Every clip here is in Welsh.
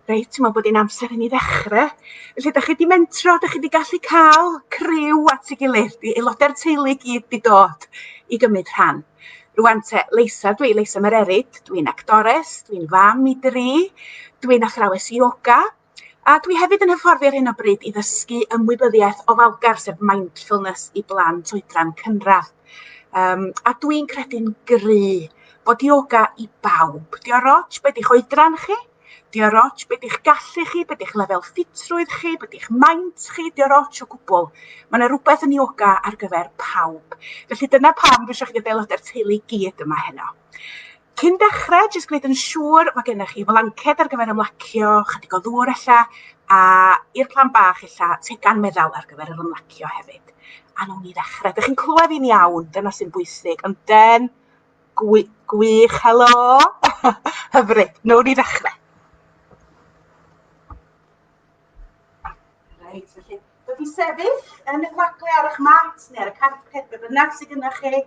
Reit dwi me'wl bod 'i'n amser i ni ddechre. Felly 'dach chi 'di mentro 'dach chi 'di gallu ca'l criw at 'i gilydd 'di aelodau'r teulu i gyd 'di dod i gymryd rhan. Rŵan 'te Leisa dw i Leisa Mererid dwi'n actores dwi'n fam i dri dwi'n athrawes ioga a dwi hefyd yn hyfforddi ar hyn o bryd i ddysgu ymwybyddiaeth ofalgar sef mindfulness i blant oedran cynradd. Um, a dwi'n credu'n gry bod yoga i bawb. Di o'r roch beth i'ch oedran chi, di o'r roch beth i'ch gallu chi, beth i'ch lefel ffitrwydd chi, beth i'ch maint chi, di o'r roch o gwbl. Mae yna rhywbeth yn yoga ar gyfer pawb. Felly dyna pam dwi eisiau chi gael aelodau'r teulu gyd yma heno. Cyn dechrau, jyst gwneud yn siŵr mae gennych chi flanced ar gyfer ymlacio, chydig o ddŵr ella, a i'r plan bach ella, tegan meddal ar gyfer yr ymlacio hefyd. A nhw'n ni ddechrau. Dych chi'n clywed fi'n iawn, dyna sy'n bwysig. Ond den, gwy, gwych, helo! Hyfryd, nhw'n ni ddechrau. Reit, felly, dod i sefyll yn y gwagle ar eich mat neu ar y carpet, be bynnag sydd gyda chi.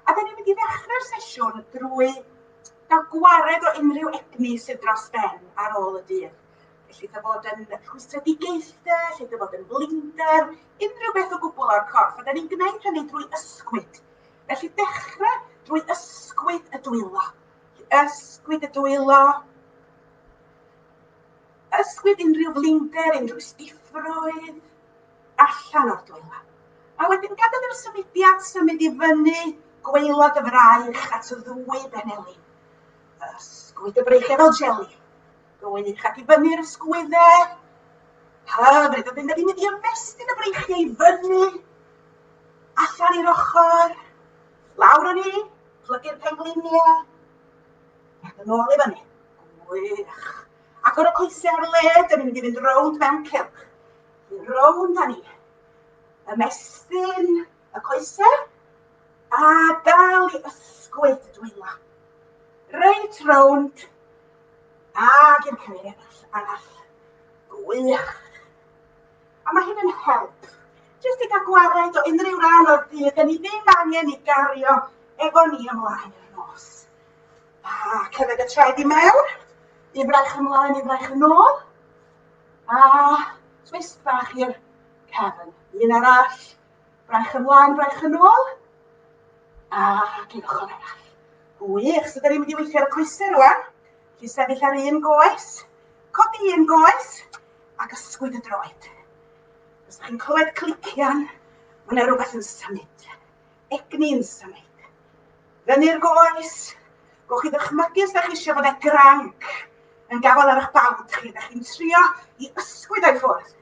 A da ni'n mynd i ddechrau'r sesiwn drwy gael gwared o unrhyw egni sydd dros ben ar ôl y dydd. Felly, da fod yn rhwystredigaethau, lle da fod yn blinder, unrhyw beth o gwbl o'r corff. A da ni'n gwneud hynny drwy ysgwyd. Felly, dechrau drwy ysgwyd y dwylo. Ysgwyd y dwylo, Ysgwyd unrhyw flinder, unrhyw stiffrwydd allan o'r dwylo. A wedyn gadael i'r symudiad symud i fyny gweilod y fraich at y ddwy benelin. Ysgwyd y braich efo jeli. Gwy'n eich ac i fyny'r ysgwyddau. Hyfryd, a dyn ni'n mynd i ymestyn y breichiau i fyny, allan i'r ochr, lawr o ni, plygu'r pengliniau, ac yn ôl i fyny. Gwych. Agor y coesau ar y led, yn mynd i fynd rownd mewn cylch. Fynd rownd â ni. Ymestyn y coesau a dal i ysgwyd y dwylo. Reit rownd ag i'r cymryd arall. arall. Gwych. A mae hyn yn help. Jyst i gael gwared o unrhyw ran o'r dydd, da ni ddim angen i gario efo ni ymlaen yn y nos. A cefyd y traed i mewn. Un braich ymlaen, un braich yn ôl. A twist bach i'r cefn. Un arall. Braich ymlaen, braich yn ôl. A cyn ochr arall. Wych, so da ni'n mynd i weithio ar y coesau rwan. Chi sefyll ar un goes. Codi un goes. Ac ysgwyd y droed. Os ydych chi'n clywed clician, mae yna rhywbeth yn symud. Egni'n symud. Fyny'r goes. Gwch chi ddychmygu os da chi eisiau bod y granc yn gafael ar eich bawd chi. Da chi'n trio i ysgwyd o'i ffwrdd.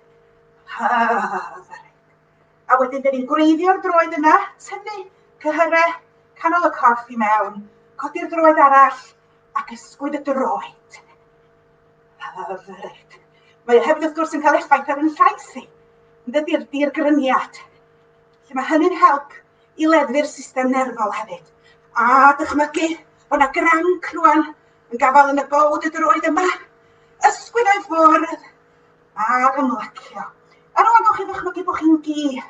A wedyn, da ni'n gwreiddio'r droed yna, tynnu cyhyre canol y corff i mewn, codi'r droed arall ac ysgwyd y droed. Hyfryd. Mae hefyd wrth gwrs yn cael effaith ar yn llais i. Dydy'r dirgryniad Felly mae hynny'n help i leddfu'r system nerfol hefyd. A dychmygu bod yna granc rwan yn gafael yn y bod y droed yma, ysgwyd o'i ffordd ac ymlacio. A rwan gawch chi ddychmygu bod chi'n gi,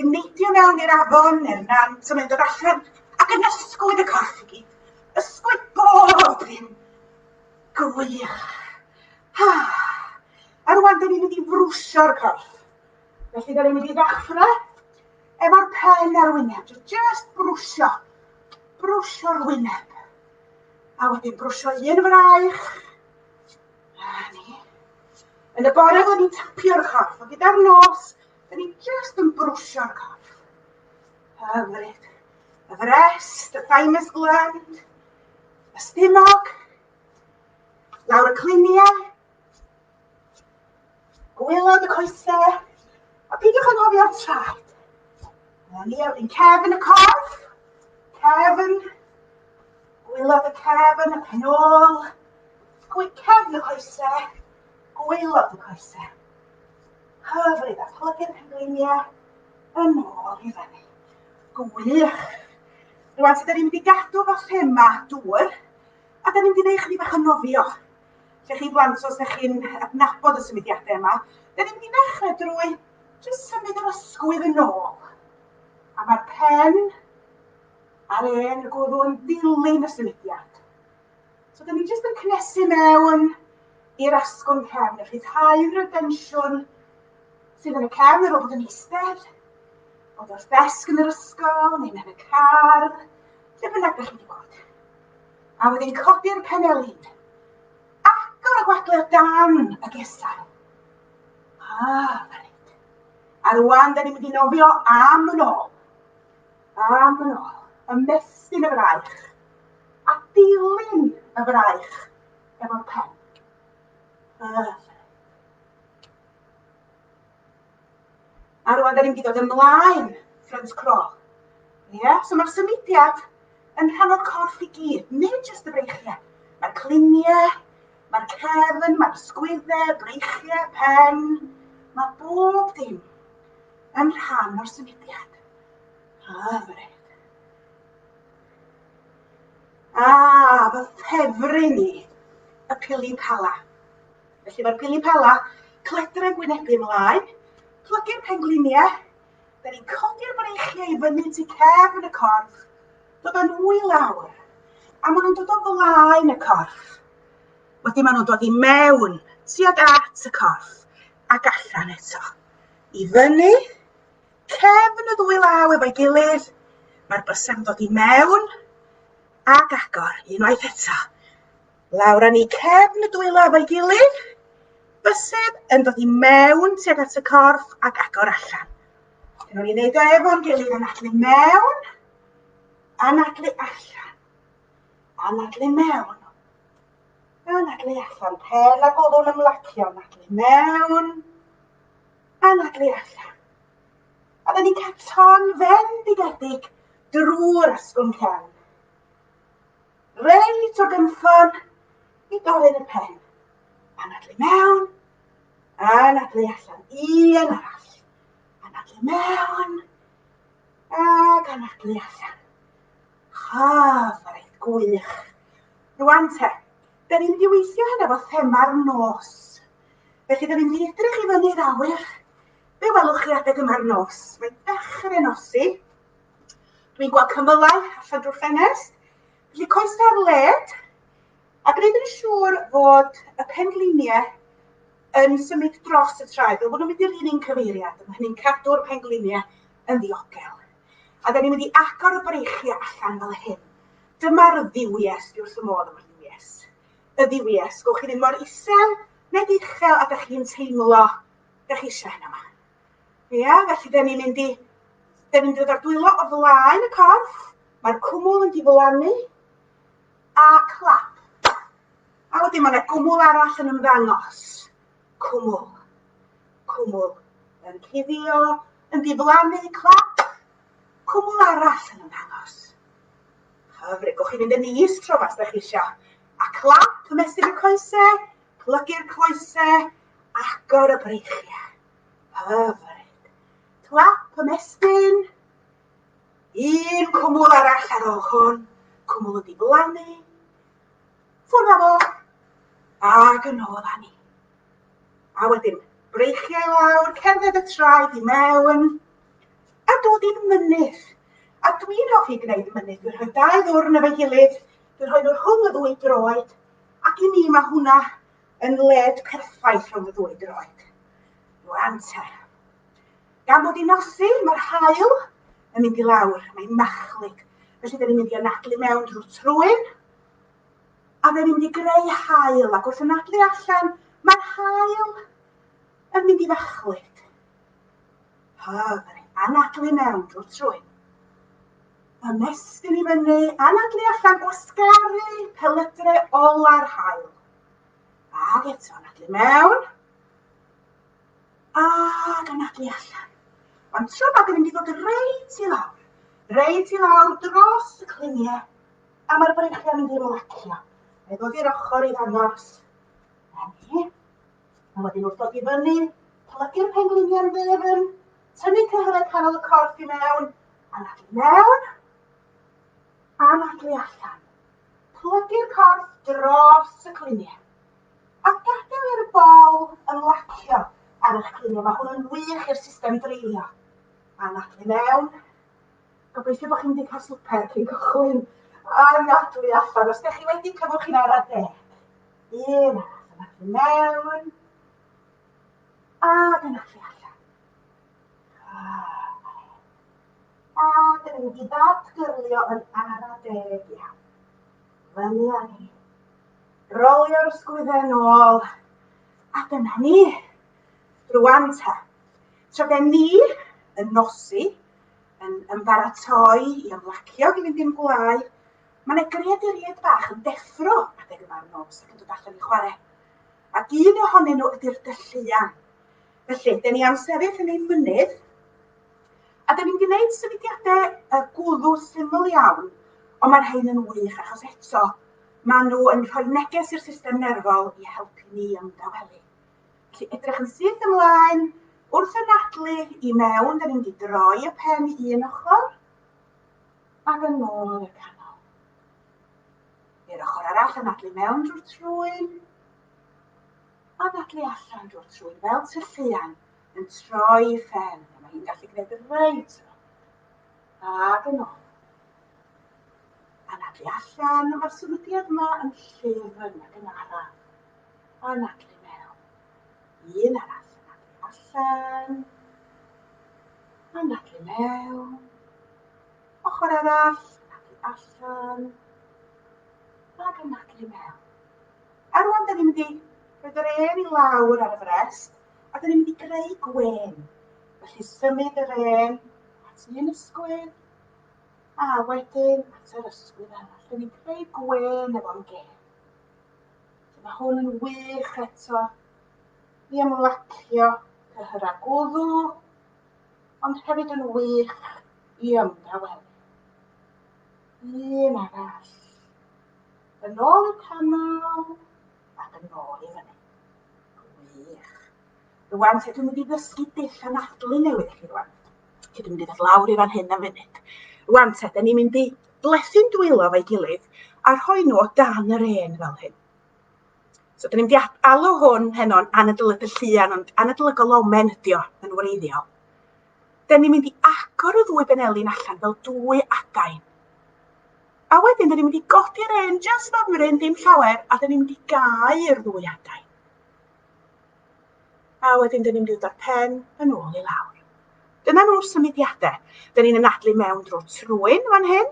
yn neidio mewn i'r afon neu'r nant yn mynd o'r allan ac yn ysgwyd y corff i gyd. Ysgwyd bob un. Gwych. Ha. A rwan dyn ni'n mynd i frwsio'r corff. Felly, da ni'n mynd i ddechrau efo'r pen ar wyneb. Just brwsio. Brwsio'r wyneb. A wedyn brwsio un fraich. A ni. Yn y bore, da ni'n tapio'r corff. Ond gyda'r nos, da ni just yn brwsio'r corff. Hyfryd. Y frest, y thymus gland, y stumog, lawr y cliniau, Gwylod y coesau, a peidiwch ag ofio traed. Na ni, wedyn cefn y corff, cefn, gwylod y cefn, y penol, cefn y coesau, gwylod y coesau. Hyfryd, a plygu'r pengliniau yn ôl i fyny. Gwych. Rwy'n sydd wedi gadw fo thema dŵr, a da ni'n mynd i wneud chydig bach o nofio. Lle chi blant, os ydych chi'n adnabod y symudiadau yma, dyn ni'n mynd i ddechrau drwy jyst symud yr ysgwydd yn ôl. A mae'r pen a'r en y gwddw yn dilyn y symudiad. So dyn ni jyst yn cnesu mewn i'r asgwrn cefn, a rhyddhau'r tensiwn sydd yn y cefn ar ôl bod yn eistedd, ond wrth ddesg yn yr ysgol, neu'n yn y car, lle bynnag ydych chi wedi bod. A wedi codi'r penelin. Agor y gwagle o dan y gesau. Ah, reit. A rwan, da ni'n mynd i nofio am yn ôl. Am yn ôl. Ymestyn y fraich. A dilyn y fraich efo'r pen. Ah, A rwan da ni'n mynd i ddod ymlaen, front crawl. Ie, yeah? so mae'r symudiad yn rhan o'r corff i gyd, nid jyst y breichiau. Mae'r cliniau, mae'r cefn, mae'r sgwyddau, breichiau, pen, mae bob dim yn rhan o'r symudiad. Hyfryd. A, fy ffefryn i, y pili pala. Felly mae'r pili pala, cledren gwynebu mlaen, plygu'r pengliniau, da ni'n codi'r breichiau i fyny tu cefn y corff, dod â nhw i lawr, a maen nhw'n dod o flaen y corff. Wedyn maen nhw'n dod i mewn, tuag at y corff, ac allan eto. I fyny, cefn y ddwy law efo'i gilydd, mae'r bysau'n dod i mewn, ac agor, unwaith eto. Lawr â ni cefn y dwylo efo'i gilydd. Bysedd yn dod i mewn tuag at y corff ac agor allan. Rwy'n ni'n neud o efo'n gilydd anadlu mewn, anadlu allan, anadlu mewn, anadlu allan, pen a golwn ymlacio, anadlu mewn, anadlu allan. A dyn ni'n cael ton fen digedig drwy'r asgwrn cefn. Reit o gynffon i doryn y pen. Anadlu mewn, anadlu allan. Un arall. Anadlu mewn, ac anadlu allan. Chaf, a reit gwych. Rwan te, da ni'n mynd i weithio hynna fo thema'r nos. Felly, da ni'n mynd i edrych i fyny'r awyr. Be welwch chi adeg yma'r nos? Mae dechrau nosi, Dwi'n gweld cymylau allan drwy'r ffenest. Felly coes ar led a gwneud yn siŵr fod y pengliniau yn symud dros y traed. Fel bod nhw'n mynd i'r un un cyfeiriad. Mae hynny'n cadw'r pengliniau yn ddiogel. A da ni'n mynd i agor y breichiau allan fel hyn. Dyma'r ddiwies, dwi wrth y modd efo'r ddiwies. Y ddiwies, gwch chi ddim mor isel neu uchel a da chi'n teimlo da chi eisiau hynna yma. Ia, felly da ni'n mynd i... Da ni'n dod o'r dwylo o flaen y corff, mae'r cwmwl yn diflannu, a clap. A wedyn mae yna gwmwl arall yn ymddangos. Cwmwl. Cwmwl yn cuddio, yn diflannu, clap. Cwmwl arall yn ymddangos. Hyfryd, gwch chi fynd yn is tro mas da chi eisiau. A clap, ymestyn y coesau, plygu'r coesau, Agor y breichiau. Hyfryd. Clap y mestyn. Un cwmwl arall ar ôl hwn. Cwmwl wedi blannu. Ffwrdd â fo. Ac yn ôl â ni. A wedyn, breichiau lawr, cerdded y traed i mewn, a dod i'n mynydd. A dwi'n hoffi gwneud mynydd. Dwi'n rhoi dau ddwrn efo'i gilydd, dwi'n rhoi nhw rhwng y ddwy droed, ac i mi mae hwnna yn led perffaith rhwng y ddwy droed. Rwan te. Gan bod i nosi, mae'r hael yn mynd i lawr, mae'n machlig. Felly, dyn ni'n mynd i anadlu mewn drwy'r trwyn, a fe mynd i greu hael, ac wrth anadlu allan, mae'r hael yn mynd i ddachlyd. Hyfryd, anadlu mewn drwy'r trwyn. Ymestyn i fyny, anadlu allan, gwasgaru pelydrau ola'r hael. Ac eto, anadlu mewn. Ac anadlu allan. Mae'n tro bag yn mynd i fod reit i lawr. Reit i lawr dros y cliniau. A mae'r breichiau'n mynd i'r lacio. Mae ddod i'r ochr i ddangos. Emi. A wedyn wrth ddod i fyny, plygu'r pengliniau'n dde fan Tynnu cyhyrau canol y corff i mewn, anadlu mewn, anadlu allan. Plygu'r corff dros y cluniau. A gadael i'r bol ymlacio ar eich cluniau. Mae hwn yn wych i'r system dreulio. Anadlu mewn. Gobeithio bod chi'n mynd i cael swper cyn cychwyn. Anadlu allan. Os ydych chi wedi cyfwch i'n ara de. Un arall, anadlu mewn. A dyna chi allan. A dyn ni'n mynd i ddatgyrlio yn ara deg iawn. Fyny â ni. Rolio'r sgwydden ôl. A dyna ni. Rwan ta. Tra gen ni yn nosi, yn ymbaratoi i ymlacio i fynd i'n gwlau, mae yna greaduriaid bach yn deffro adeg yma'r nos ac yn dod allan i chwarae. ac un ohonyn nhw ydy'r dylluan. Felly, dyn ni am sefyll yn ein mynydd, a dyn ni'n gwneud symudiadau y gwddw syml iawn, ond mae'r rhain yn wych achos eto, maen nhw yn rhoi neges i'r system nerfol i helpu ni ymdawelu. Felly, edrych yn syth ymlaen, wrth y nadlu i mewn, dyn ni'n di droi y pen i un ochr, ac yn ôl i'r canol. I'r ochr arall anadlu mewn drwy'r trwyn. Anadlu allan drwy'r trwyn fel tylluan yn troi i ffen. Mae hi'n gallu gwneud y reit Ac yn ôl. Anadlu allan, mae'r symudiad yma yn llyfn ac yn araf. Anadlu mewn. Un arall, anadlu allan. Anadlu mewn. Ochr arall ac i allan. Ac yn ac i mewn. A rwan da ni'n mynd i roed yr ên i lawr ar y frest a da ni'n mynd i greu gwen. Felly symud yr ên at un ysgwydd a wedyn at yr ysgwydd arall. Da ni'n creu gwen efo'n gen. Mae hwn yn wych eto i ymlacio cyhyrau gwddw ond hefyd yn wych i ymdawelu. Un arall. Yn ôl i'r canol ac yn ôl i fyny. Gwych. Rwan, ti dwi'n mynd i ddysgu dull anadlu newydd i chi rwan. Ti dwi'n mynd i ddod lawr i fan hyn am funud. Rwan te, da ni'n mynd i blethu'n dwylo fo'i gilydd a rhoi nhw o dan yr ên fel hyn. So dyn ni'n mynd i alw hwn heno'n anadolygol llian, ond anadolygol omen ydi o yn wreiddiol. Dyn ni'n mynd i agor y ddwy benelin allan fel dwy adain. A wedyn dyn ni'n mynd i godi'r un just fymryn, dim llawer, a dyn ni'n mynd i gau i'r ddwy adain. A wedyn dyn ni'n mynd i ddod pen yn ôl i lawr. Dyna nhw'r symudiadau. Dyn ni'n anadlu mewn drwy trwyn fan hyn,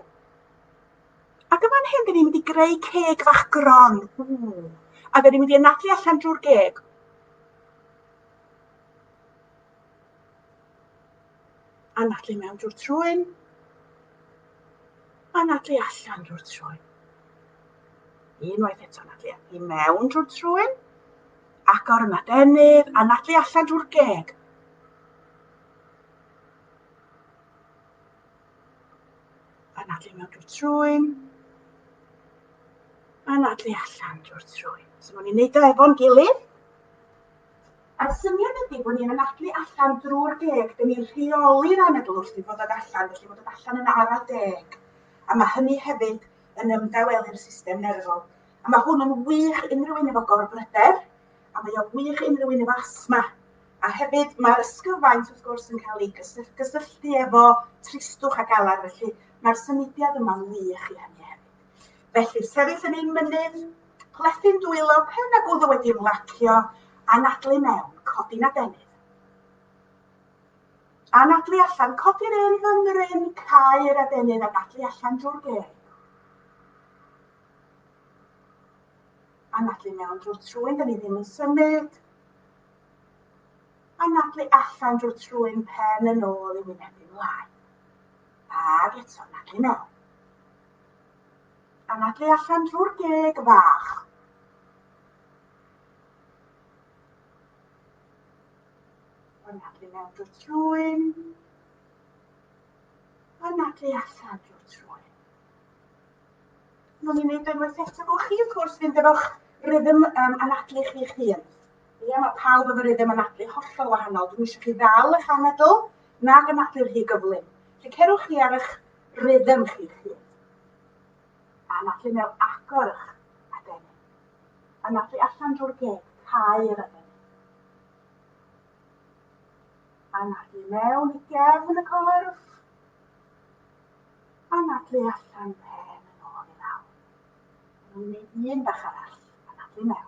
Ac yn fan hyn, dyn ni'n mynd i greu ceg fach gron. Ww. A dyn ni'n mynd i anadlu allan drwy'r geg. Anadlu mewn drwy'r trwyn. Anadlu allan drwy'r trwyn. Unwaith eto anadlu i mewn drwy'r trwyn. Agor yn adenydd, anadlu allan drwy'r geg. Anadlu mewn drwy'r trwyn. Anadlu allan drwy'r trwyn. So ma'n i'n neud o efo'n gilydd. A'r syniad ydy bod ni'n anadlu allan drwy'r deg, dyn ni'n rheoli'r anadl wrth i fod yn allan, felly bod yn allan yn ara deg. A mae hynny hefyd yn ymdawelu'r system nerfol. A mae hwn yn wych unrhyw un efo gorbryder, a mae o'n wych unrhyw un efo asma. A hefyd mae'r ysgyfaint wrth gwrs yn cael ei gysylltu efo tristwch a galar, felly mae'r symudiad yma'n wych i hynny hefyd. Felly, sefyll yn ein mynydd, plethu'n dwylo, pen a gwddw wedi ymlacio, anadlu mewn, codi'n adenydd. Anadlu allan, codi'r un fy mryn, cael adenydd, anadlu allan drwy'r geg. Anadlu mewn drwy'r trwyn, da ni ddim yn symud. Anadlu allan drwy'r trwyn pen yn ôl i wynebu mlaen. Ag eto anadlu mewn. Anadlu allan drwy'r geg fach. Anadlu mewn drwy'r trwyn. Anadlu allan drwy'r trwyn. Mae'n ni'n ei wneud unwaith eto. Gwch chi, wrth gwrs, fynd efo'ch rhythm um, anadlu chi'ch hun. Ie, mae pawb efo rhythm anadlu hollol wahanol. Dwi'n eisiau chi ddal eich anadl, nag anadlu rhy gyflym. Felly cerwch chi ar eich rhythm chi chi. A anadlu mewn agor eich adenni. Anadlu allan drwy'r geg, cau yr adenni. Anadlu mewn i gefn y corff. Anadlu allan pen yn ôl i lawr. Rwy'n gwneud un bach arall. Anadlu mewn.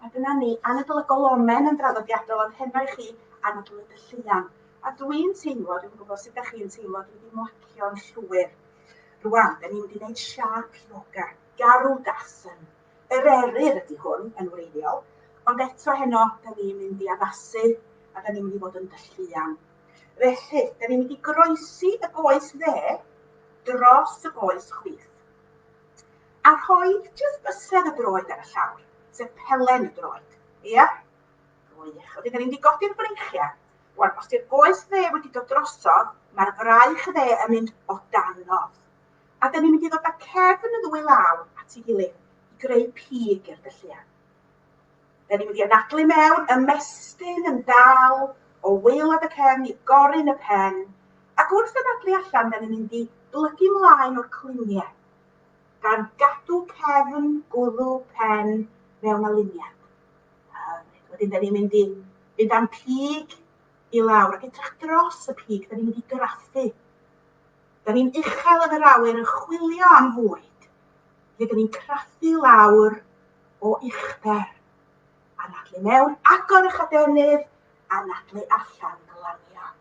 Mae gyda ni anadl y golomen yn draddodiadol ond heno i chi anadl y dylluan. A dw i'n teimlo, dwi'n gwybod sut ydych chi'n teimlo, dwi wedi mwacio'n llwyr. Rwan, da ni'n mynd i wneud siâp ioga, garw dasen. Yr eryr ydy hwn yn wreiddiol, ond eto heno da ni'n mynd i addasu a da ni'n mynd i fod yn dylluan. Felly, da ni'n mynd i groesi y goes dde dros y goes chwith. A rhoed jyst bysedd y droed ar y llawr, sef pelen y droed. Ia? Gwych. Wedyn, da ni'n di godi'r breichiau. Wan, os di'r goes dde wedi dod drosodd, mae'r fraich dde yn mynd o danodd. A da ni'n mynd i ddod â cefn y ddwy law at ei gilydd i greu pig i'r dylluan. Da ni'n mynd i anadlu mewn, ymestyn yn dal o waelod y cefn i gorin y pen, ac wrth anadlu allan, da ni'n mynd i blygu mlaen o'r cluniau gan gadw cefn gwddw pen mewn aliniad. Wedyn, da ni'n mynd i fynd am pig i lawr ac edrych dros y pig, da ni'n mynd i graffu. Da ni'n uchel yn yr awyr yn chwilio am fwyd, lle da ni'n craffu lawr o uchder, anadlu mewn, agor y chadenydd, anadlu allan, glanio.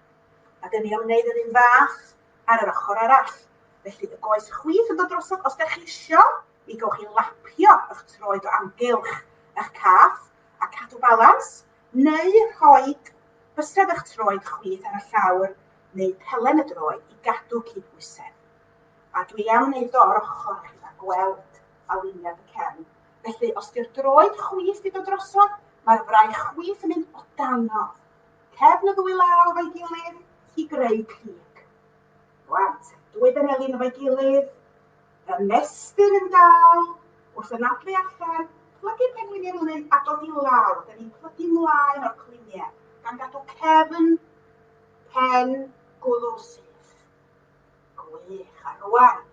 A da ni'n ymwneud yr un fath ar yr ochr arall. Felly, y goes chwith yn dod drosodd, os ydych chi eisiau, mi gowch chi lapio eich troed o amgylch eich cath a cadw balans, neu rhoi bysedd eich troed chwith ar y llawr neu pelen y droed i gadw cydbwysedd. A dwi am wneud o ar ochr chi a gweld aliniad y cefn. Felly, os di'r droed chwith i dod drosodd, mae'r fraich chwith yn mynd o danodd. cefn y ddwy law efo'i gilydd i greu cig. Rwan, dwy benelin efo'i gilydd, y mestyn yn dal, wrth ynadlu allan, plygu penwyn i'r lyn a dod i lawr, da ni'n plygu mlaen o'r cliniau, gan gadw cefn, pen, gwddw syth. Gwych, a rwan,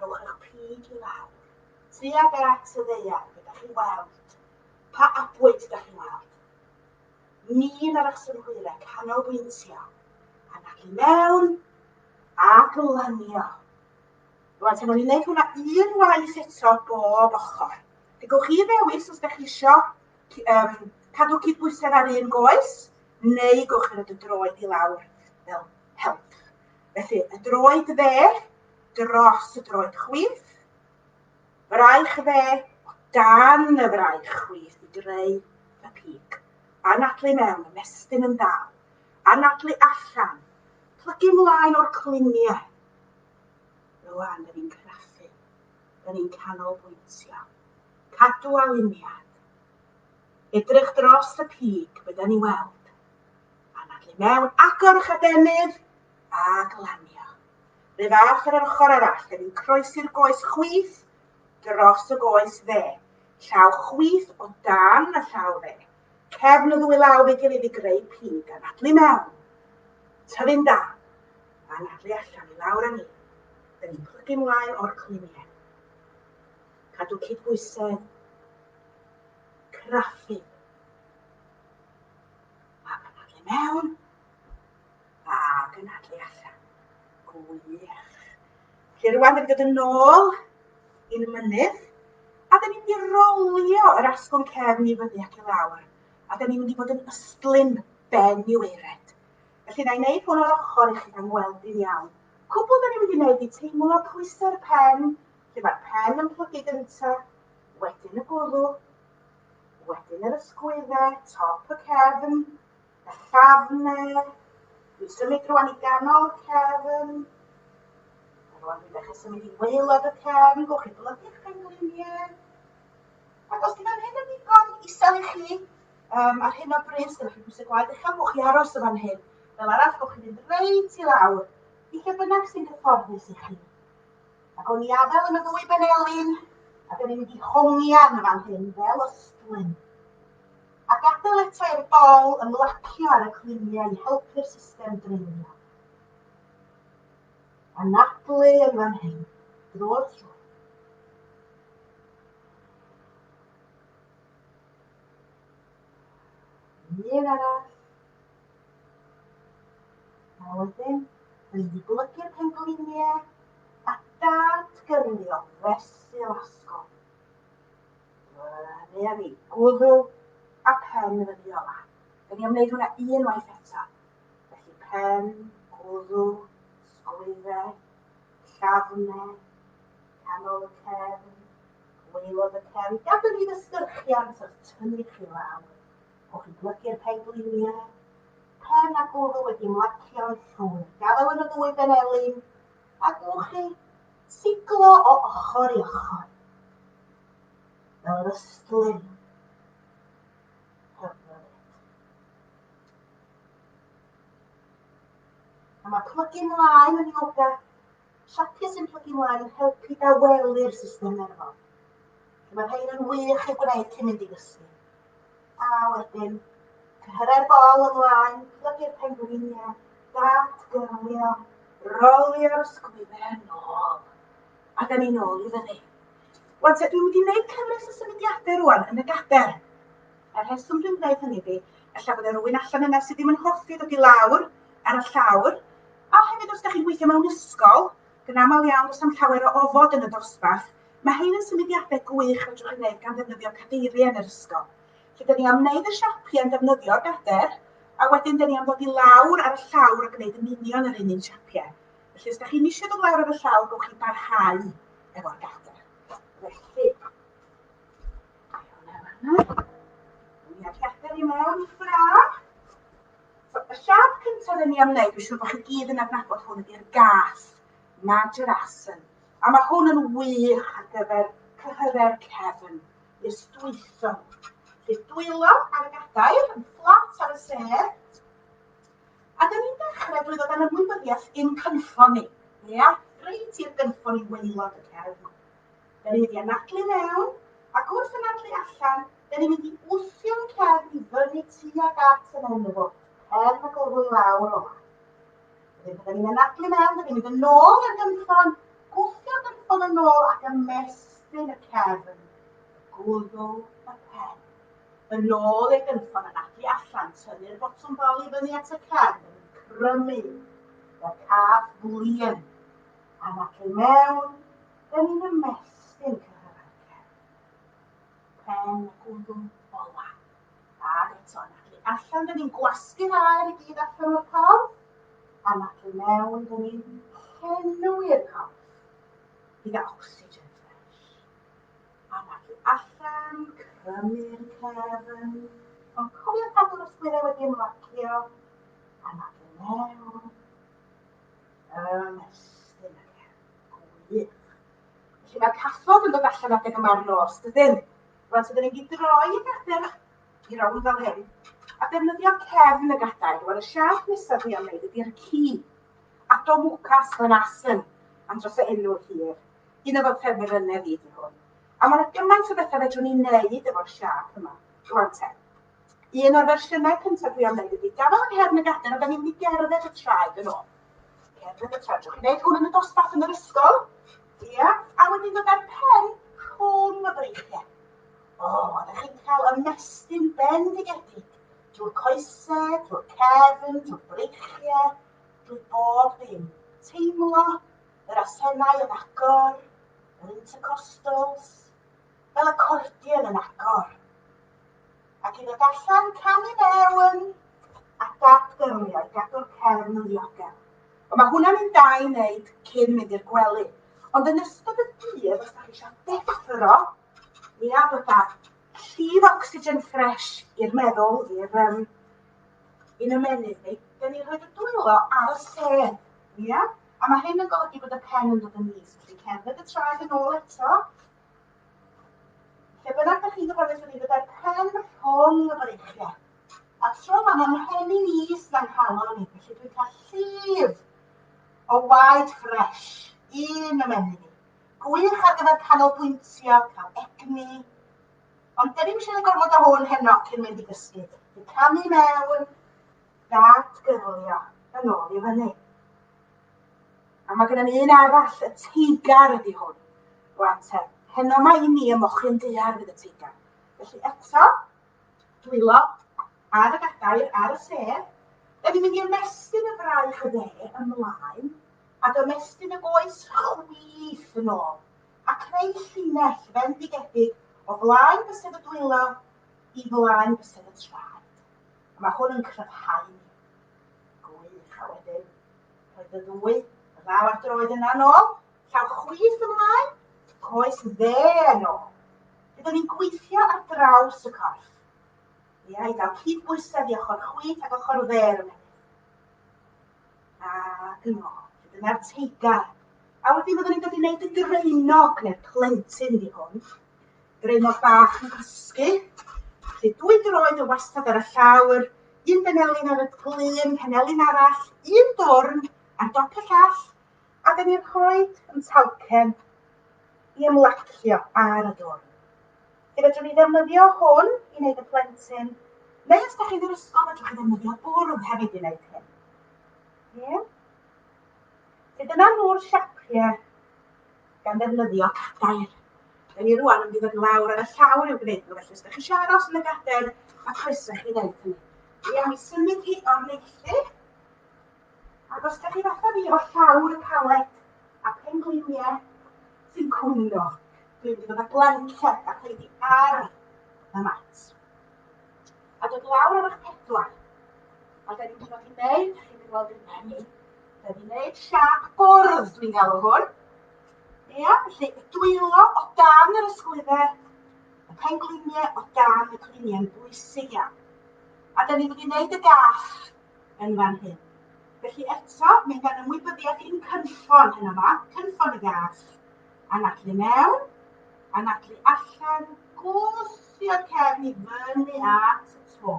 rhowch eich pig i lawr, tuag at y ddeiar, be da chi'n weld? Pa abwyd da chi'n weld? Ni na resymhwyre canolbwyntio yn ac i mewn ac yn lanio. Rwan, tan o'n i'n gwneud hwnna un waith eto bob ochr. Fe gwch chi ddewis os ydych chi eisiau um, cadw cydbwysedd ar un goes, neu gwch chi roi y droed i lawr fel help. Felly, y droed dde dros y droed chwith, Fraich dde, gan y fraich chwith i greu y pig. Anadlu mewn, ymestyn yn dal. Anadlu allan, plygu mlaen o'r cluniau. Rwan, dyn ni'n craffu, dyn ni'n canolbwyntio. Cadw aliniad. Edrych dros y pig, bydden ni weld. Anadlu mewn, agor eich adenydd, a glanio. Ref arall ar yr ochr arall, ref yn croesi'r goes chwith dros y goes dde, llaw chwith o dan y llaw dde, cefn y ddwy law fe gilydd i greu pig, anadlu mewn, tyfu'n da, anadlu allan i lawr â ni, yn ni'n plygu mlaen o'r cliniau. Cadw cydbwysedd, craffu, a anadlu mewn, A, dyna lle allan. Gwych. Felly rwan yn dod yn ôl i'n mynydd, a da ni'n mynd i rolio yr asgwrn cefn i fyny ac i lawr, a da ni'n mynd i fod yn ystlum ben i weired. Felly na i wneud hwn o'r ochr i chi gan weld i'n iawn. Cwbl da ni'n mynd i wneud i teimlo pwysau'r pen, lle mae'r pen yn plygu gynta, wedyn y gwddw, wedyn yr ysgwyddau, top y cefn, a chafnau. Dwi'n symud rwan i ganol y cefn. A rwan dwi'n dechrau symud i waelod y cefn. Gwch chi blygu'ch pengliniau. Ac os di fan hyn yn ddigon isel i chi, um, ar hyn o bryd, os ydych chi'n pwysau gwaed uchel, gwch chi aros o fan hyn. Fel arall, gwch chi fynd reit i lawr, i lle bynnag sy'n gyfforddus i chi. Ac o'n i adael yn y ddwy benelin, ac o'n i'n mynd i hongian fan hyn, fel ystlyn. a gadael eto i'r bol ymlacio ar y cluniau i helpu'r system dreulio. Anadlu yn fan hyn, drwy'r tro. un arall. A wedyn, dwi wedi golygu'r pengliniau a dad gyrnio fesul asgol. Neuadd i, gwddw a phen fy Fiola. Dw i am wneud hwnna unwaith eto. Felly pen, gwddw, sgwydde, llafne, canol y cefn, gwaelod y cefn. Gadw ni fy sgyrchiant wrth tynnu chi lawr. O'ch chi'n plygu'r pengliniau? Pen a gwddw wedi mlacio'n llwyr. Gadael yn y ddwy ben elin. A gwnwch chi? siglo o ochr i ochr fel yr ystlum hyfryd. A mae plygu mlaen yn yoga, siapio sy'n plygu mlaen yn helpu dawelu'r system nerfol. Mae rhain yn wych i'w gwneud cyn mynd i gysgu. A wedyn, cyrraedd bol ymlaen, plygu'r pengwiniau, datgyrlio, rolio'r sgwydden nôl, a da ni nôl i fyny. Wan te, dwi wedi gwneud cyfres o symudiadau rwan yn y gader. Y rheswm dwi'n gwneud hynny di, ella bod rhywun allan yna sydd ddim yn hoffi ddod i lawr ar y llawr, a hefyd os da chi'n gweithio mewn ysgol, yn aml iawn does am llawer o ofod yn y dosbarth, Mae hein yn symudiadau gwych fedrwch ei wneud gan ddefnyddio cadeiriau yn yr ysgol. Felly, dyn ni am wneud y siapiau yn defnyddio'r gader, a wedyn dyn ni am ddod i lawr ar y llawr a gwneud yn union yr un un siapiau. Felly, os da chi'n eisiau dod lawr ar y llawr, gowch chi barhau efo'r gader. Felly, Gader i mewn i ffraf. So, y siap cyntaf dyn ni am wneud, dwi'n siŵr bod chi gyd yn adnabod hwn ydy'r gath, Major Asen. A mae hwn yn wych ar gyfer cyhyrau'r cefn, i'r stwytho. Felly dwylo ar y gadair, yn fflat ar y sedd. A dyn ni'n dechrau drwy ddod â'n ymwybyddiaeth i'n cynffon ni. Ia, reit i'r gynffon i weilod y cefn. Dyn ni'n mynd i anadlu mewn, ac wrth anadlu allan, dyn ni'n mynd i wthio'n cefn i fyny tuag at yn enw fo, cefn y gorwy lawr o. Wedyn byddwn ni'n anadlu mewn, byddwn ni'n mynd yn ôl i'r gynffon, gwthio'r gynffon yn ôl ac ymestyn y cefn, gwddw y pen. Yn ôl i'r gynffon, anadlu allan, tynnu'r botwm bol i fyny at y cefn, crymu, y cath flin, anadlu mewn, byddwn ni'n ymestyn cyrraedd pen y gwddw ola. Ac eto, na chi allan, dyn ni'n gwasgu'r aer i gyd allan o'r corff. A na chi mewn, dyn ni'n henwi'r corff gyda ocsigen ffres. A na chi allan, crymu'r cefn. Ond cofio cadw'r ysgwyddau wedi ymlacio. A na chi mewn, ymestyn y cefn. Gwych. Felly mae cathod yn dod allan adeg yma'r nos, dydyn? Rwan, so dyn ni'n mynd i droi y gadair i rownd fel hyn, a defnyddio cefn y gadair. Rwan, y siarp nesaf dwi am wneud ydy'r ci. Addo mwcas yn asyn, am dros y enw hir. Un o fy ffefr yna fi di hwn. A mae'n gymaint o bethau fedrwn ni'n neud efo'r siarp yma. Rwan te. Un o'r fersiynau cyntaf dwi am wneud ydy gafael yng nghefn y gadair a da ni'n mynd i gerdded y traed yn ôl. Cerdded y traed. Dwi'n gwneud hwn yn y dosbarth yn yr ysgol. Ia. A wedyn dod â'r pen rhwng y breichiau. O, oh, a da chi'n cael ymestyn bendigedig drwy'r coesau, drwy'r cefn, drwy'r breichiau, drwy bob dim. Teimlo yr asennau yn agor, yr intercostals, fel acordion yn agor, ac i ddod allan, cam i mewn, a dad gyrwio i gadw'r cefn yn ddiogel. Ond mae hwnna'n un da i wneud cyn mynd i'r gwely. Ond yn ystod y dydd, os da chi eisiau deffro, mi a bod da llif oxygen ffres i'r meddwl, i'r um, un ymenydd ni, da ni rhoi y dwylo ar y sedd. Ia? A mae hyn yn golygu bod y pen yn dod yn is. Ti'n cerdded y traed yn ôl eto, Lle bynnag da chi'n gyfarwydd fyny gyda'r pen rhwng y breichiau. A tro yma mae mhen i'n is dan calon ni, felly dwi'n cael llif o waed ffres un ymenyn ni. Gwych ar gyfer canolbwyntio, cael egni. Ond dyn ni'n eisiau gorfod o hwn heno cyn mynd i gysgu. Dwi'n camu mewn, dad gyrlio, yn ôl i fyny. A mae gennym ni un arall, y teigar ydy hwn. Rwan te, heno mae i ni y mochyn dear fydd y teigar. Felly eto, dwylo ar y gadair, ar y sedd. Da ni'n mynd i ymestyn y fraich y dde ymlaen a dymestyn y goes chwith yn ôl a creu llinell fendigedig o flaen bysedd y dwylo i flaen bysedd y traed. A mae hwn yn cryfhau ni. Gwych, a wedyn Roedd y ddwy ddaw ar droed yna nôl, llaw chwith ymlaen, coes dde yn ôl. Byddwn ni'n gweithio ar draws y corff. Ia, i gael cyd bwysedd i ochr chwith ac ochr dde ar y menydd. A yn ôl, dyna'r teigar. A wedyn byddwn ni'n dod i wneud y draenog neu'r plentyn i hwn. Draenog bach yn cysgu. Felly dwy droed yn wastad ar y llawr, un benelin ar y glun, penelin arall, un dwrn ar dop y llall, a dyn ni'n rhoi yn talcen i ymlacio ar y dwrn. Felly fedrwn ni ddefnyddio hwn i wneud y plentyn, neu os da chi'n yr ysgol, fedrwch chi ddefnyddio bwrdd hefyd i wneud hyn. Ie? Felly dyna nhw'r siapiau gan ddefnyddio cadair. Da ni rwan yn mynd i fod yn lawr ar y llawr i'w gwneud nhw, felly os da chi eisiau aros yn y gadair, mae croeso chi wneud hynny. Dwi am i symud hi o'r neithu, ac os da chi fatha fi efo llawr y paled a pengliniau sy'n cwyno, dwi'n mynd i fod â blanced a pleidiau ar y mat. A dod lawr ar eich pedwar. A da ni'n mynd i fod yn neud, da chi'n mynd i weld yn menu, da ni'n neud siap bwrdd, dwi'n galw hwn. Ia, felly y dwylo o dan yr ysgwyddau, y pengliniau o dan y gliniau yn bwysig iawn. A da ni'n mynd i wneud y gaff yn fan hyn. Felly eto, mae gan ymwybyddiaeth i'n cynffon hyn yma, cynffon y gath, anadlu mewn, anadlu allan, gwth, Sbia cefn i fyny at y to,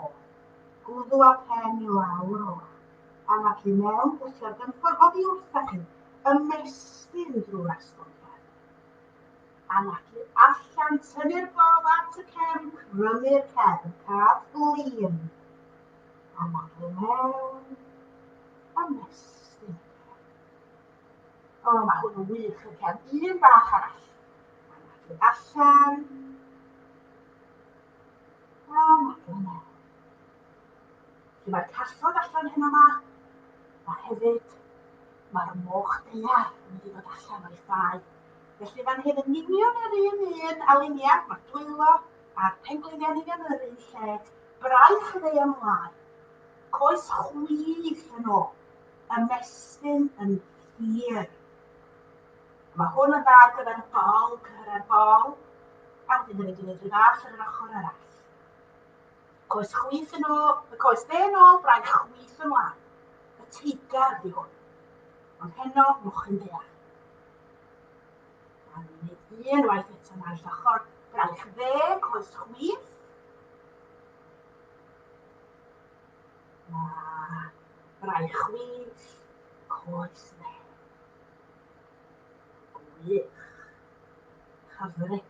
gwddw a phen i lawr o law, a nac i mewn, gwthio'r gynffon oddi wrtha chi, ymestyn drwy'r asgwrn cefn, a nac i allan, tynnu'r gol at y cefn, crymu'r cefn, cad flin, a nac i mewn, ymestyn y cefn. O, mae hwn yn wych. Oce, am un bach arall. Dwi'n allan. A mae dyna. Felly mae'r cathod allan hyn yma. Mae hefyd, mae'r moch deiar yn mynd i fod allan o'i ffau. Felly fan hyn yn union yr un un a lunia, mae'r dwylo a'r pengliniau'n union yr un lle. Braich y ddeiar ymlaen. Coes chwith yn ôl. ymestyn yn hir. Mae hwn yn dda ar gyfer y bol, cyhyrau'r bol, a wedyn hefyd yn edrych fach ar yr ochr arall. Coes chwith yn ôl, y coes dde yn ôl, braich chwith yn wan. Y teigar di hwn. Ond heno, mochyn ddeall. A ni'n ei un waith eto na'r llochor. Braich dde, coes chwith. Mae braich wyllt coes Wen. Gwych. Hyfryd.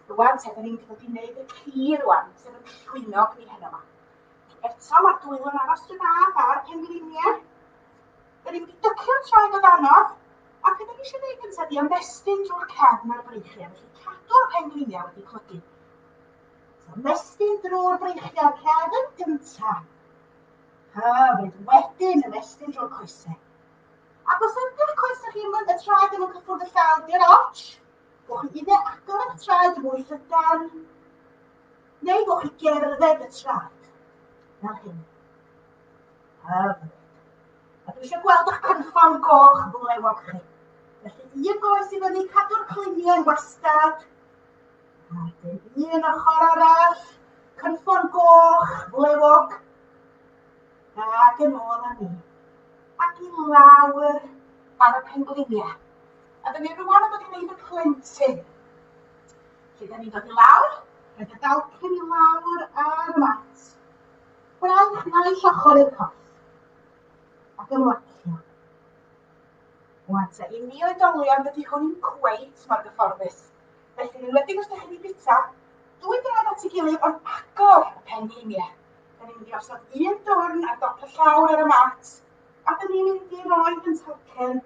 Rwan te, da ni'n dod i wneud y ci rwan, sef y llwynog ni heno yma. Eto, mae'r dwylo'n aros dyn na fa'r pengliniau. Da ni'n mynd i dycio'r traed o danodd, a beth da ni eisiau gwneud gyntaf di ymestyn drwy'r cefn a'r breichiau, felly cadw'r pengliniau wedi clygu. Ymestyn drwy'r breichiau rhad yn gyntaf, a fydd wedyn ymestyn drwy'r coesau. Ac os ydych coesau chi yn y traed ddim yn cyffwrdd y llawr, di'r arch, Gwch chi unau agor eich traed yn fwy llydan, neu gwch chi gerdded y traed, fel hyn. Hyfryd. A dwi eisiau gweld eich cynffon goch flewog chi. Felly, un goes i fyny, cadw'r cluniau wastad, Wedyn un ochr arall, cynffon goch, flewog. Ac yn ôl â ni. Ac i lawr ar y pengliniau. A dyn ni rwan yn dod i wneud y plentyn. Felly, dyn ni'n dod i lawr, rhaid y dalcyn i lawr ar y mat. Braich naill ochr i'r corff. Ac ymlacio. Wan ta, i ni oedolion, dydy hwn i'n cweit mor gyfforddus. Felly, yn enwedig os da chi'n ei bita, dwy dwrnod at ei gilydd ond agor y pen heiniau. Da ni'n mynd i osod un dwrn ar dop y llawr ar y mat, a da ni'n mynd i roi yn talcen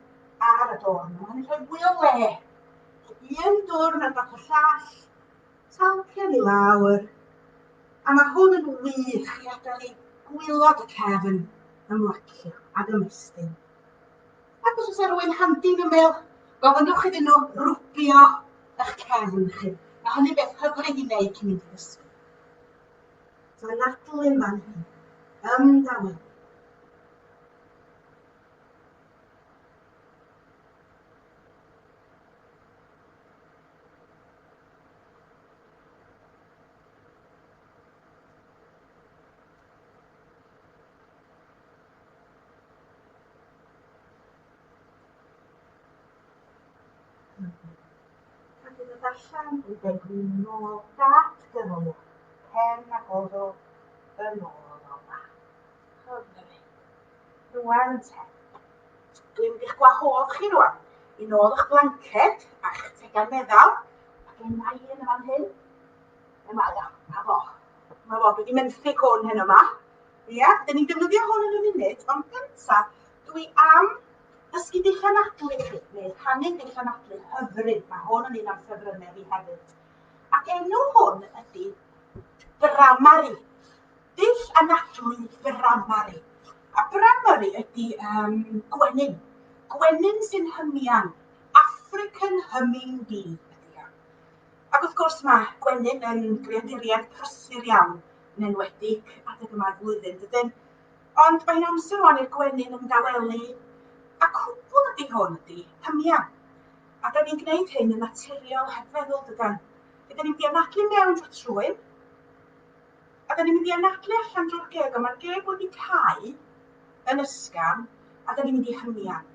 ar y dwrn. Mae'n mynd i rhoi fwy o le. Un dwrn ar dop y llall, talcen i lawr, a mae hwn yn wych i adael i gwylod y cefn ymlacio ac ymestyn. Ac os oes rwy'n handi yn ymyl, gofynnwch iddyn nhw rwbio eich cefn chi. Mae hynny beth hyfryd i wneud cyn mynd i ddysgu. So mae Natalie yma'n hyn. Ymdawel. Pan ddynodd allan ei degwyn yn ôl dat gyrraedd cefn a gododd yn ôl o dda. Rhwng y rhain. Rwan te. Dwi'n mynd i'ch gwahodd chi rwan. I nôl eich blanced a'ch tegan meddal. Mae gen i un yn fan hyn. Yma, ia. A fo. Mae fo. Dwi wedi menthyg hwn heno ma. Ia, dyn ni'n defnyddio hwn yn y munud, ond gynta, dwi am ddysgu dulliau nadlu i chi, neu rhannu dulliau nadlu hyfryd. Mae hwn yn un o'n ffefrynnau fi hefyd. Ac enw hwn ydy Bramari. Dull anadlu Bramari. A Bramari ydy um, gwenyn. Gwenyn sy'n hymian. African humming bee ydy o. Ac wrth gwrs mae gwenyn yn greaduriaid prysur iawn yn enwedig adeg yma'r flwyddyn, dydyn? Ond mae'n amser rwan i'r gwenyn ymdawelu, a cwbl ydi hwn ydi, pymia. A da ni'n gwneud hyn yn naturiol heb feddwl, dydan? Ydyn ni'n mynd i anadlu mewn drwy trwyn, a da ni'n mynd i anadlu allan drwy'r geg, ond mae'r geg wedi cau, yn ysgafn a da ni'n mynd i hymian.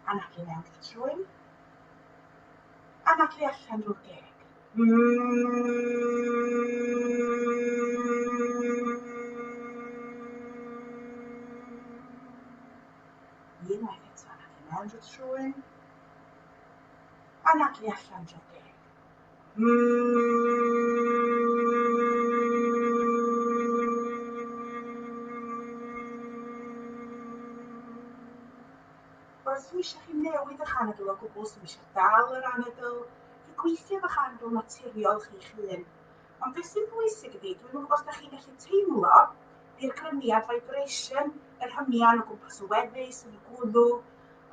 A na chi mewn i'r trwy. A na chi allan drwy'r geg. Unwaith eto, na chi mewn drwy'r trwy. Anadlu allan dro deg. Os dwi eisiau chi newid eich anadl o gwbl, os dwi eisiau dal yr anadl, fi gweithio efo'ch anadl naturiol chi'ch hun. Ond beth sy'n bwysig ydy, dwi'n gwybod os da chi'n gallu teimlo i'r grymiad vibration, yr hymian o gwmpas y weddi, sy'n y gwddw,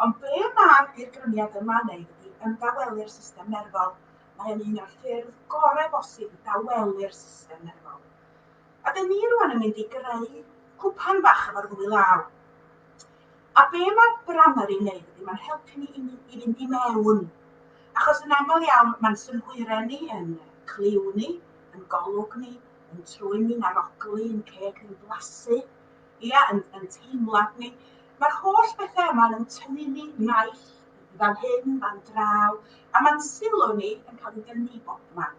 Ond ble mae'r dirgrymiad yma wneud ydi ymdawelu'r system nerfol, mae o'n un o'r ffyrdd gore bosib i dawelu'r system nerfol. A dyn ni rwan yn mynd i greu cwpan bach efo'r ddwy law. A be mae Bramery wneud ydi mae'n helpu ni i, ni, i fynd i mewn. Achos yn aml iawn mae'n synhwyre ni yn cliw ni, yn golwg ni, yn trwyn ni'n arogli, yn ceg ni'n blasu, Ia, yn, yn teimlad ni. Mae'r holl bethau yma yn tynnu ni naill fan hyn, fan draw, a mae'n sylw ni yn cael ei dynnu bob man.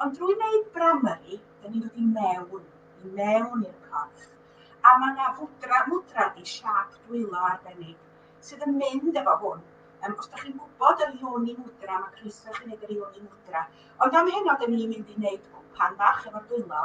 Ond drwy wneud bramyri, da ni'n dod i mewn, i mewn i'r corff. A mae yna fwdra, mwdra di siap dwylo arbennig sydd yn mynd efo hwn. Um, os da chi'n gwybod yr ioni mwdra, mae croeso chi'n gwneud yr ioni mwdra. Ond am heno, da ni'n mynd i wneud gwpan bach efo'r dwylo,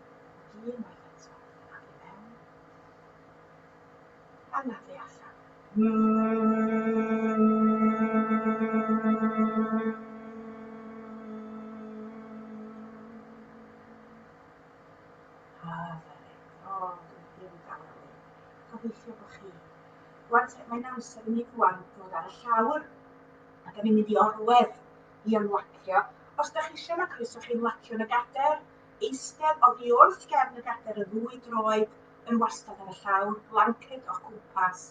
Dwi unwaith eto ac i mewn a na thu allan. Hyfryd. O, dwi ddim yn dal rhywun. Gobeithio bod chi. Rwan te, mae'n amser i ni rwan ddod ar y llawr. A da ni'n mynd i orwedd i ymlacio. Os da chi eisiau, mae croeso chi ymlacio yn y gader. Eistedd oddi wrth gefn y gadair y ddwy droed yn wastad ar y llawr, blanced o'ch cwmpas.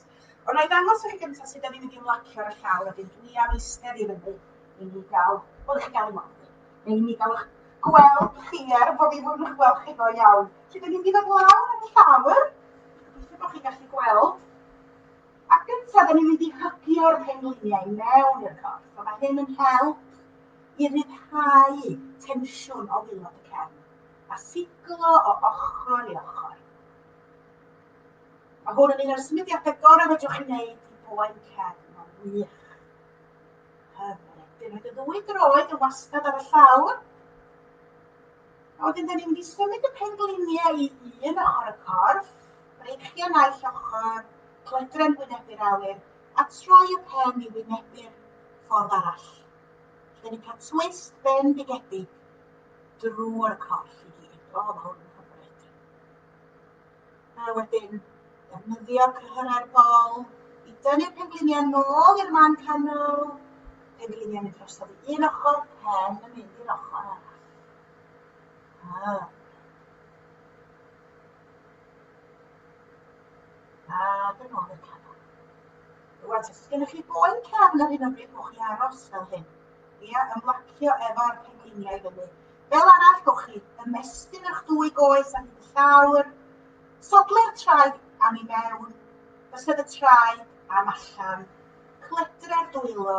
Ond na i ddangos i chi gyntaf sut da ni'n mynd i ymlacio ar y llawr a bydd dwi am eistedd i fyny i ni gael, wel i chi gael ymlaen fi, neu i ni gael eich gweld chi er bod fi ddim yn gweld chi ddo iawn. Felly da ni'n mynd i fod lawr ar y llawr, gobeithio bod chi'n gallu gweld. Ac gyntaf, da ni'n mynd i hygio'r pengliniau mewn i'r corff, a mae hyn yn help i ryddhau tensiwn o waelod y cefn a siglo o ochr i ochr. Mae hwn yn un o'r symudiadau gorau fedrwch chi wneud i boen cefn, mae'n wych. Hyfryd. Dwi'n rhaid y ddwy droed yn wastad ar y llawr. A wedyn, da ni'n mynd i symud y pengliniau i un ochr y corff, breichio naill ochr, clydren wynebu'r awyr, a troi y pen i wynebu'r ffordd arall. Dwi wedi cael twist bendigedig drwy'r corff i gyd. O, mae hwn yn hyfryd. A wedyn, defnyddio cyhyrau'r bol i dynnu'r pengliniau nôl i'r man canol. Pengliniau mynd drosodd i un ochr, pen yn mynd i'r ochr arall. Ah. A dyn ôl i'r canol. Rwan, os gennych chi boen cefn ar hyn o bryd, gwch chi aros fel hyn. Ia, ymlacio efo'r pengliniau i fyny. Fel arall, gwch chi ymestyn eich dwy goes ar hyd y llawr, sodlau'r traed am i mewn, bysedd y traed am allan, cledre'r dwylo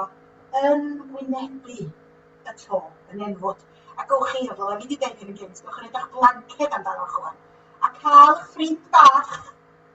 yn wynebu y to, yn enfwd. A gwch chi, fel o'n i wedi dweud yn gynt, gwch chi'n edrych blanced amdanoch chwan. A cael eich ffrind bach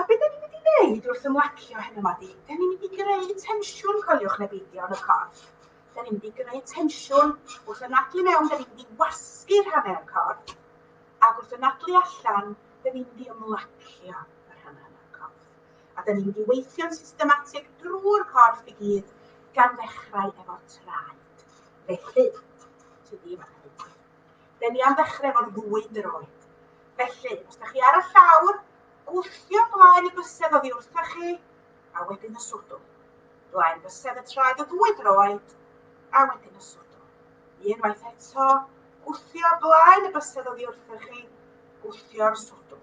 A be 'dan ni'n mynd i wneud wrth ymlacio hyn yma di? Da ni'n mynd i greu tensiwn, coeliwch neu beidio, yn y corff. Da ni'n mynd i greu tensiwn wrth y nadlu mewn, da ni'n mynd i wasgu rhannau o'r corff, ac wrth y nadlu allan, da ni'n mynd i ymlacio y rhannau o'r corff. A da ni'n mynd i weithio'n systematig drwy'r corff i gyd, gan ddechrau efo traed. Felly, ti ddim yn Dden ni am ddechrau efo'r ddwy droed. Felly, os da chi ar y llawr, gwthio blaen y bysedd oddi wrthoch chi, a wedyn y swdw. Blaen bysedd y traed o ddwy droed, a wedyn y swdw. Unwaith eto, gwthio blaen y bysedd oddi wrthoch chi, gwthio'r swdw.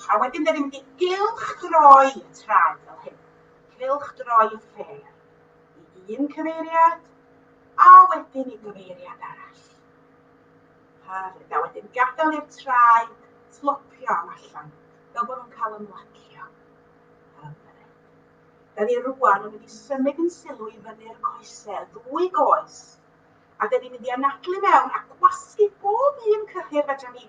A wedyn da ni'n mynd i gylch droi y traed fel hyn. Gylch droi y ffer i un cyfeiriad, a wedyn i gyfeiriad arall. Hyfryd. A wedyn gadael i'r traed tlopio am allan, fel bod nhw'n cael ymlacio. Hyfryd. Da ni rwan yn mynd i symud yn sylw i fyny'r coesau, y ddwy goes. A da ni'n mynd i anadlu mewn a gwasgu bob un cyhyr fedra ni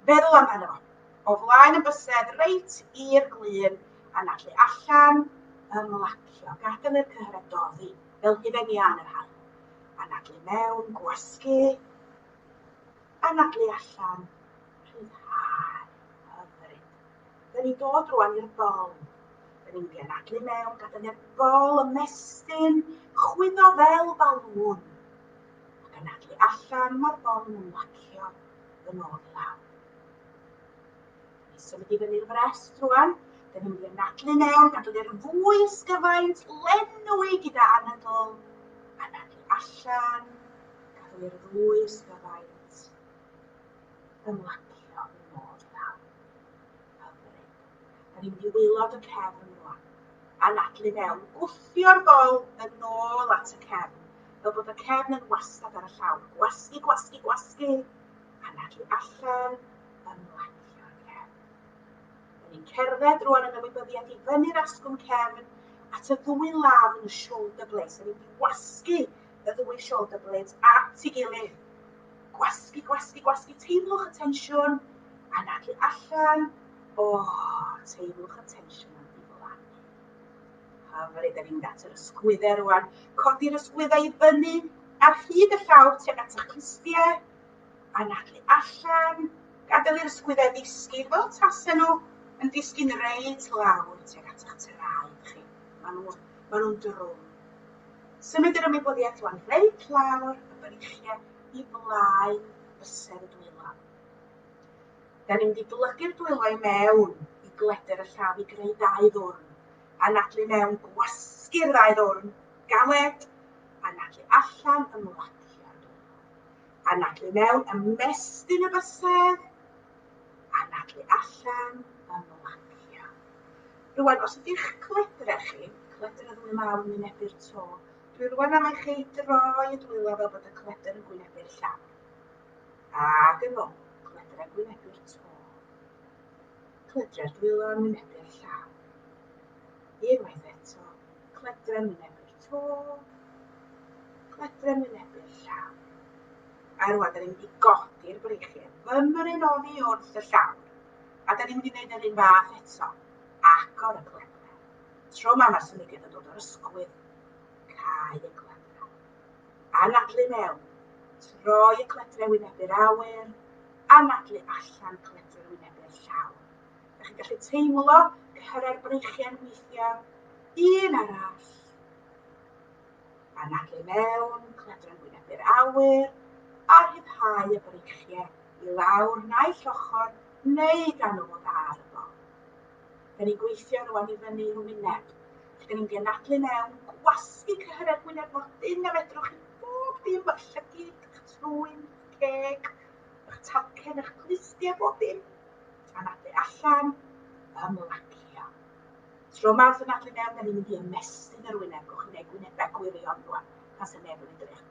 feddwl amdano fo. O flaen yn bysedd, reit i'r glun, anadlu allan, ymlacio, gadael i'r cyhyrau doddi, fel hufen iân yr haf. Anadlu mewn, gwasgu. Anadlu allan, rhyddhau. Hyfryd. Dyn ni'n dod rwan i'r bol. Dyn ni'n mynd anadlu mewn, gadael i'r bol ymestyn, chwyddo fel balŵn. Ac anadlu allan, mae'r bol yn ymlacio yn ôl i lawr. Ni'n symud i fyny'r frest rwan. Da ni'n mynd i'r nadlu mewn, gadw i'r fwy ysgyfaint, lenwi gyda anadl, a nadlu allan, gadw i'r fwy ysgyfaint, ymlacio i mod i lawr. Hyfryd. Da ni'n mynd i wylod y cefn rwan, a nadlu mewn, gwthio'r bol yn ôl at y cefn, fel bod y cefn yn wastad ar y llawr. Gwasgu, gwasgu, gwasgu, a nadlu allan, ymlacio cefn. Dyn ni'n cerdded rwan yn ymwybyddiaeth i fyny'r asgwrn cefn at y ddwy law yn y shoulder blades. Dyn ni'n gwasgu y ddwy shoulder blades at ei gilydd. Gwasgu, gwasgu, gwasgu. Teimlwch y tensiwn. Anadlu allan. O, oh, teimlwch y tensiwn yn diflannu. Hyfryd, da ni'n at yr ysgwyddau rwan. Codi'r ysgwyddau i fyny ar hyd y llaw tuag at eich clustiau. anadlu allan, gadael i'r ysgwyddau ddisgyn fel tasen nhw yn disgyn reit lawr tuag at eich traed chi. Maen nhw, maen nhw'n drwm. Symud yr ymwybyddiaeth rwan reit lawr y breichiau i blaen bysedd y dwylo. Da ni'n mynd i blygu'r dwylo i mewn i gleder y llaf i greu dau ddwrn. Anadlu mewn, gwasgu'r ddau ddwrn, galed, anadlu allan, ymlacio. Anadlu mewn, ymestyn y bysedd. Anadlu allan, ymlacio. Rwan, os ydych cledra chi, cledr y ddwy law yn wynebu'r to, dwi rwan am eich ei droi y dwylo fel bod y cledr yn gwynebu'r llawr. Ac yn ôl, cledr yn gwynebu'r to. Cledra'r dwylo yn wynebu'r llawr. Unwaith eto, cledr yn wynebu'r to. Cledrem yn ebyll llaw. A rwan, da ni'n mynd i godi'r breichiau. Fymryn oddi wrth y llawr. A da ni'n mynd i wneud yr un fath eto. Agor y cledrem. Tro ma mae'r symudiad yn dod o'r ysgwydd. Cau y cledrem. Anadlu mewn. Troi y cledrem wynebu'r awyr. Anadlu allan cledrem wynebu'r llawr. Dych chi'n gallu teimlo cyrraedd breichiau'n weithiau, un arall. A nac i mewn, cledran gwynebu'r awyr, a rhyddhau y breichiau i lawr naill ochr neu gan ôl ar y bol. Da ni'n gweithio rwan i fyny i'w wyneb. Da ni'n genadlu mewn, gwasgu cyhyredd wyneb mor dyn a fedrwch chi bob dim, eich llygyd, eich trwyn, ceg, eich talcen, eich glustiau, bob dim. Mae'n adeg allan, ymlacio. Tro mawrth yn adeg mewn, da ni'n mynd i ymestyn yr wyneb, gwch yn eu gwynebau gwirion rwan, pan sy'n neb yn edrych.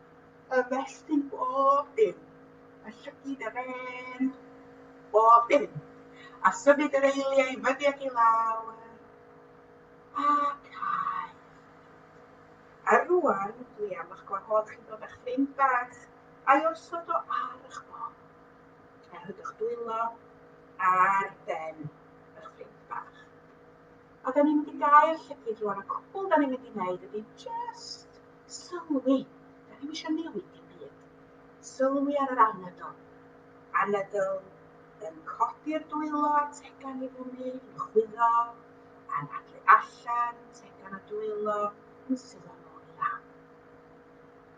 Ymestyn bob dim, y llygid, yr en, bob dim. A symud yr eiliau i fyny ac i lawr, a cael. A rwan, dwi am eich gwahodd chi ddod â'ch ffrind bach, a'i osod o ar eich bol. a rhydwch dwylo ar ben yr ffrind bach. A da ni'n mynd i gael llygyd rwan, a cwbl da ni'n mynd i wneud ydy just sylwi. Da ni'n eisiau newid dim byd. Sylwi ar yr anadl. Anadl yn codi'r dwylo a tegan i fyny, yn chwyddo, a'n adlu allan, tegan a dwylo, yn sylwi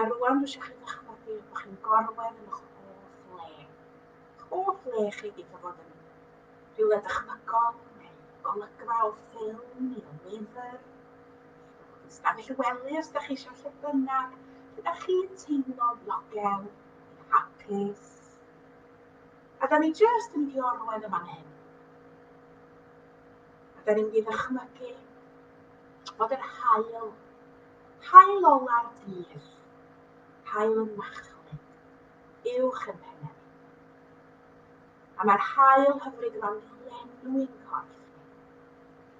A rwan dwi eisiau chi ddychmygu bod chi'n gorwedd yn eich hoff le. Eich hoff le chi wedi bod yn rhywle dychmygol neu golygfa o ffilm neu o lyfr. Stafell y wely os da chi eisiau lle bynnag lle da chi'n teimlo ddiogel, hapus. A da ni jyst yn mynd i orwedd y fan hyn. A da ni'n mynd i ddychmygu fod yr haul, haul ola'r dydd, haul y machlud, uwch yn pennefi. A mae'r haul hyfryd yma'n lenwi yn corff ni,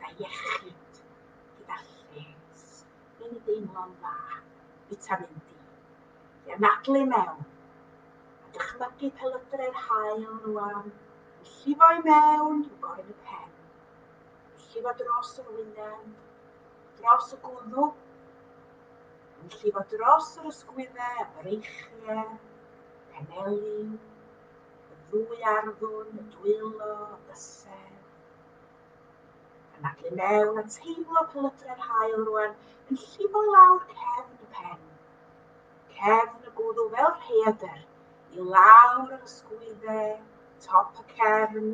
gyda iechyd, gyda lles, ni'n ei deimlo'n dda, vitamin D. Fe anadlu mewn, a dychmygu pelydrau'r haul rwan yn llifo i mewn i'w gorn y pen, yn llifo dros yr wyneb, dros y gwddw, yn llifo dros yr ysgwyddau a breichiau, peneli, y ddwy arddwn, y dwylo, y bysedd. Anadlu mewn a teimlo pelydrau'r hael rwan yn llifo lawr cefn y pen. Cefn y gwddw fel rheadr i lawr yr ysgwyddau, top y cefn,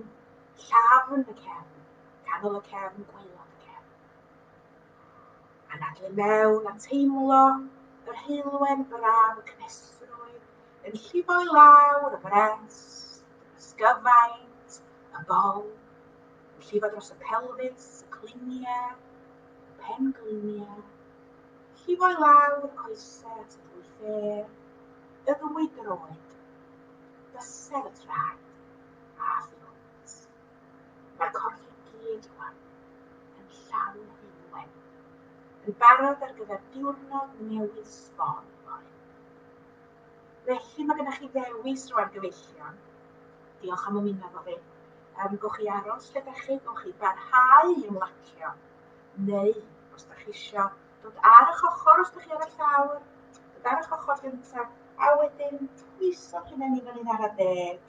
Llafn y cefn, canol y cefn, gwaelod y cefn. Anadlu mewn a teimlo yr heulwen braf y cnesrwydd yn llifo i lawr y brest, y sgyfaint, y bol, yn llifo dros y pelfis, y cliniau, y pen gliniau, llifo i lawr y coesau at y ddwy ffêr, y ddwy droed, bysedd y traed. a thrwnt. Mae'r corff i gyd rwan yn llawn hyn wen, yn barod ar gyfer diwrnod newydd sbon fory. Felly mae gennych chi ddewis rwan gyfeillion. Diolch am ymuno efo fi. Um, gwch chi aros lle da chi, gwch chi barhau i ymlacio. Neu, os da chi isio dod ar eich ochr, os da chi ar y llawr, dod ar eich ochr gyntaf, a wedyn twyso chi mewn i fan hyn ar y deg,